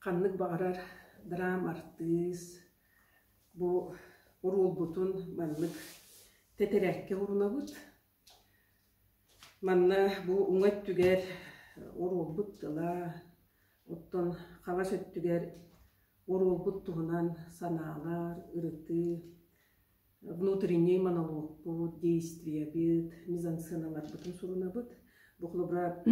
Ханнык баҕарар драм артыыс бу оруолбутун маннык тэтэрээккэ оҥорунабыт. Манна бу уҥа өттүгэр оруолбут тыла, оттон хаҥас өттүгэр оруолбут туһунан санаалар, ырытыы внутренний монолог-пут, действиебит, мизансыаналарбытын сурунабыт. Бу холобура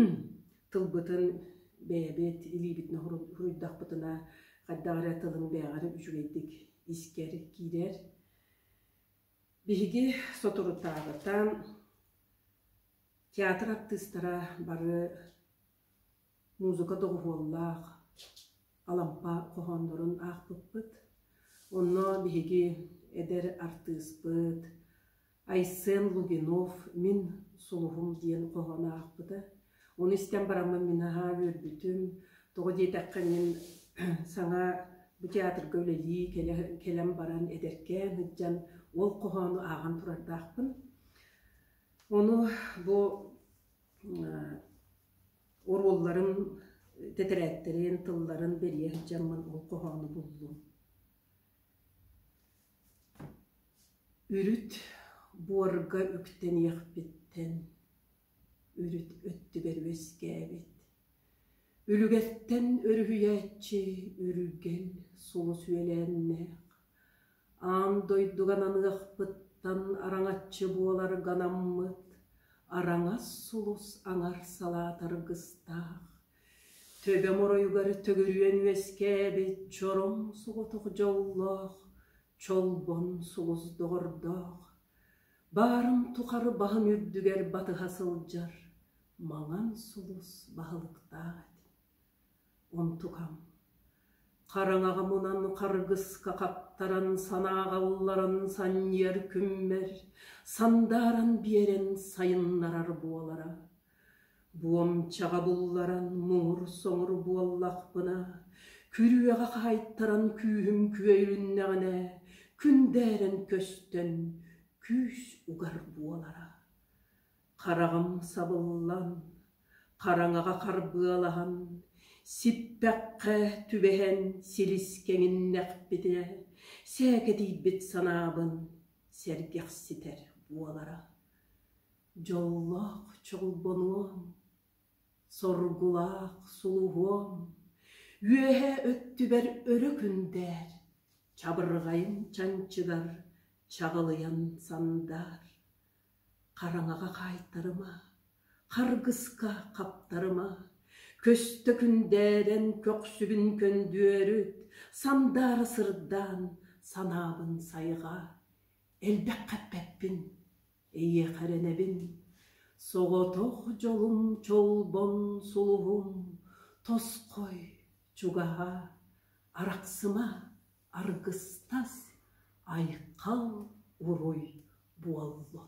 тылбытын бэйэбит илиибит хоруйдахпытына хайдах эрэ тылын бэйэҕэр үчүгэйдик искэр киирэр. Биһиги соторутааҕыта театр артыыстара бары Музыка доҕуһуоллаах Алампа хоһооннорун аахпыппыт. Онно биһиги эдэр артыыспыт Айсен Лугинов «Мин сулуһум» диэн хоһоону аахпыта. Ону истэн бараммын мин наһаа үөрбүтүм. Тоҕо диэтэххэ мин саҥа бу театрга үлэлии кэлэ кэлэн баран эдэркээн сылдьан ол хоһоону ааҕан турардаахпын. Ону бу уруулларын, тэтэрээттэрин, тылларын бэрийэ сылдьаммын ол хоһоону буллум. Үрүт буорга үктэниэхпиттэн үрүт өттүгэр үөскээбит. Үлүгэртэн өрүһүйээччи үрүгэл сулус үөлээннээх Аан дойдуган аныахпыттан араҥаччы буолар ганаммыт, араҥас сулус аҥар салаатаргыстаах, төбөм оройугар төгүрүөн үөскээбит чороҥ соҕотох дьоллоох, чолбон сулус доҕордоох, баарым тухары баһым үрдүгэр батыһа сылдьар маҥан сулус баһылыктаах этим Онтукам, хараҥаҕа мунан харгыска хаттаран санааҕа ылларан санньыар күммэр, сандааран биэрэн сайыннарар буолара, буомчаҕа булларан муҥур-соҥур буоллахпына, күрүөҕэ хаайтаран күүһүм күөйүннэҕинэ, күндээрэн көстөн, күүс угар буолара. хараҕым сабыллан, хараҥаҕа харбыалаһан, сиппэххэ түбэһэн силис кэҥиннэхпитэ, сээкэтийбит санаабын сэргэхситэр буолара. Дьоллоох чолбонуом, соргулаах сулуһуом, үөһэ өттүбэр өрө күндээр, чабырҕайым чанчыгар чаҕылыйан сандаар. Хараҥаҕа хаайтарыма, харгыска хаптарыма, көстө күндээрэн көхсүбүн көндөөрүт, сандаара сырдаан, санаабын сайҕаа. Элбэххэ эппэппин, эйиэхэ эрэнэбин, соҕотох дьолум чолбон сулуһум, тосхой, чугаһаа, арахсыма, аргыстас, айхал уруй буолла